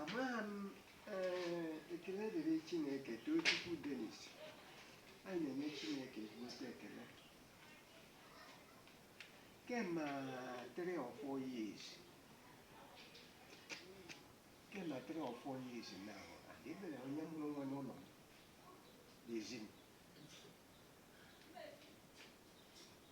amaghị m ee, ekele dịrị chineke tochukwu denis anyị na-enye chineke ezigbote ekele kema three or four years kema three or four years now adịbere onye mụrụ nwa n'ụlọ m n'ezi m